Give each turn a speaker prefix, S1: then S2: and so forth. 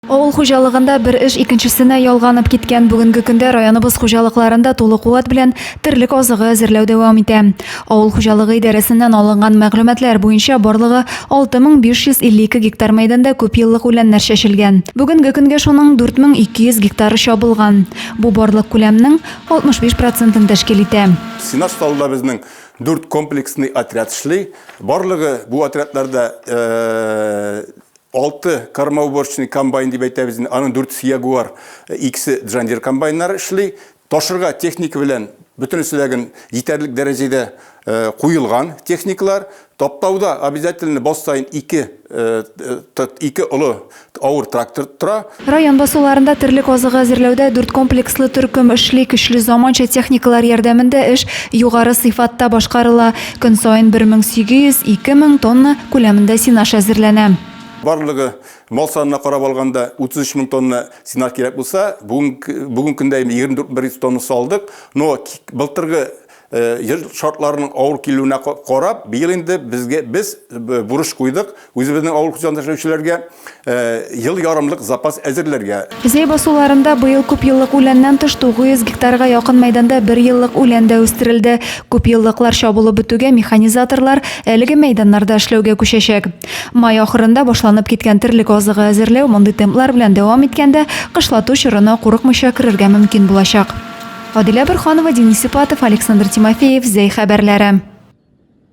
S1: Авыл хуҗалыгында бер эш икенчесенә ялганып киткән бүгенге көндә районыбыз хуҗалыкларында тулы куәт белән терлек азыгы әзерләү дәвам итә. Авыл хуҗалыгы идарәсеннән алынган мәгълүматлар буенча барлыгы 6552 гектар мәйданда күпьеллык үләннәр чәчелгән. Бүгенге көнгә шуның 4200 гектары чабылган. Бу барлык күләмнең 65 процентын тәшкил итә. Сенаж салуда безнең дүрт комплексный отряд эшли. Барлыгы бу отрядларда Алты кормоуборочный комбайн дип әйтәбез, аның дүртесе Ягуар, икесе Джандир комбайннары эшли. Ташырга техника белән бөтенесе дә гөн җитәрлек дәрәҗәдә куелган техникалар. Таптауда обязательно бал саен ике ике олы авыр трактор тора. Район басуларында терлек азыгы әзерләүдә дүрт комплекслы төркем эшли, көчле заманча техникалар ярдәмендә эш югары сыйфатта башкарыла. Көн саен 1800, 2000 тонна күләмендә сенаж әзерләнә. Барлыгы, мал санына карап алганда, 33 мең тонна сенаж кирәк булса, бүген көндә инде 24 мең 100 тоннасын алдык. Но былтыргы Ел шартларының авыр килүенә карап, быел инде безгә без бурыч куйдык үзебезнең авыл хуҗалыгында эшләүчеләргә ел ярымлык запас әзерләргә. Зәй басуларында быел күпьеллык үләннән тыш 900 гектарга якын мәйданда берьеллык үлән дә үстерелде. Күпьеллыклар чабылып бетүгә механизаторлар әлеге мәйданнарда эшләүгә күчәчәк. Май ахырында башланып киткән терлек азыгы әзерләү мондый темплар белән дәвам иткәндә, кышлату чорына курыкмыйча керергә мөмкин булачак. Адилә Борханова, Денис Сипатов, Александр Тимофеев, Зәй хәбәрләре.